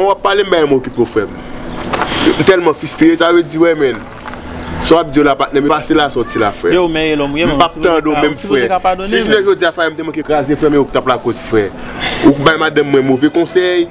Ou wap pale m bay m okipe w frem. M telman fistre sa vle di wè menn. Sa wap di yo la patnè m e pa se la sa w ti la frem. M pap tande w menm fre. Si jounen jodi a fayè m te manke kraze frem e ou k tap lakoz fre. Ou k bay madanm mwen move konsey.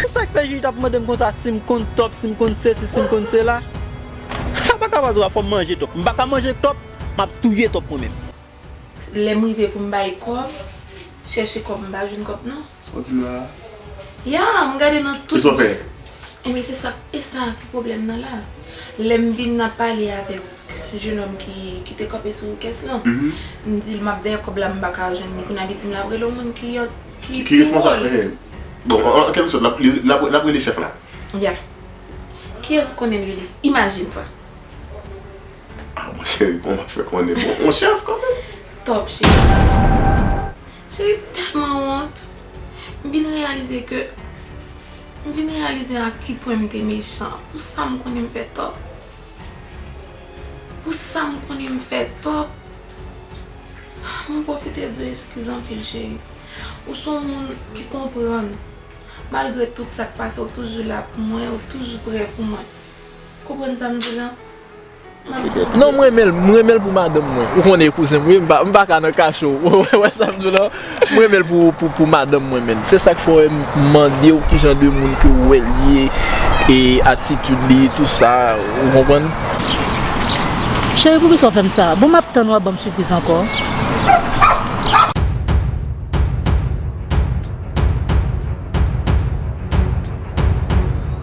Ki sak fè jij ap mandem konsa sim konn top sim konn sesi sim konn sela sa paka pa dwa fòm manje top m paka manje top map touye top mwen menm. Lèm rive poum bay kòb chèche kòb m pa jwenn kòb non. Sa w di m la a? Yeah m gade nan tout bous. Kisa w fè? Ebyen se sa esa ki pwoblèm nan la. Lèm vin nan pale avèw. Jenòm ki te kanpe sou kès lan. M di l m ap dèyè kòb la m pa ka jwenn li. Kounye a li di m l ap rele yon moun ki pi wo l. Bon, an kèlke sòt, l ap rele chèf la. Ya. Kiyès konnen l rele? Imajine toi! A mon cheri, kòman m ap fè konnen? Bon, yon chèf kanmenm. Tòp cheri. Cheri, m tèlman wont. M vin reyalize ke, m vin reyalize a ki pwen m te mechan. Pou sa m konnen m fè tò. Pou sa m konnen m fè tò, mwen pwofite di w eskiz anpil cheri. Ou son moun ki konprann, malgre tout sa k pase ou toujou la pou mwen, ou toujou prè pou mwen. Ou konprann sa m di la? M ap di w. Non m renmen l, m renmen l pou madanm mwen. Ou konnen kouzen m wi, m pa ka nan kache w. Ou wè sa m di w la? M renmen l pou madanm mwen menn. Se sak fè m mandew kijan de moun ke ou wèl ye e atitid li tout sa ou konprann. Cheri poukisa ou fèm sa. Bon map tann wap banm sipriz ankò.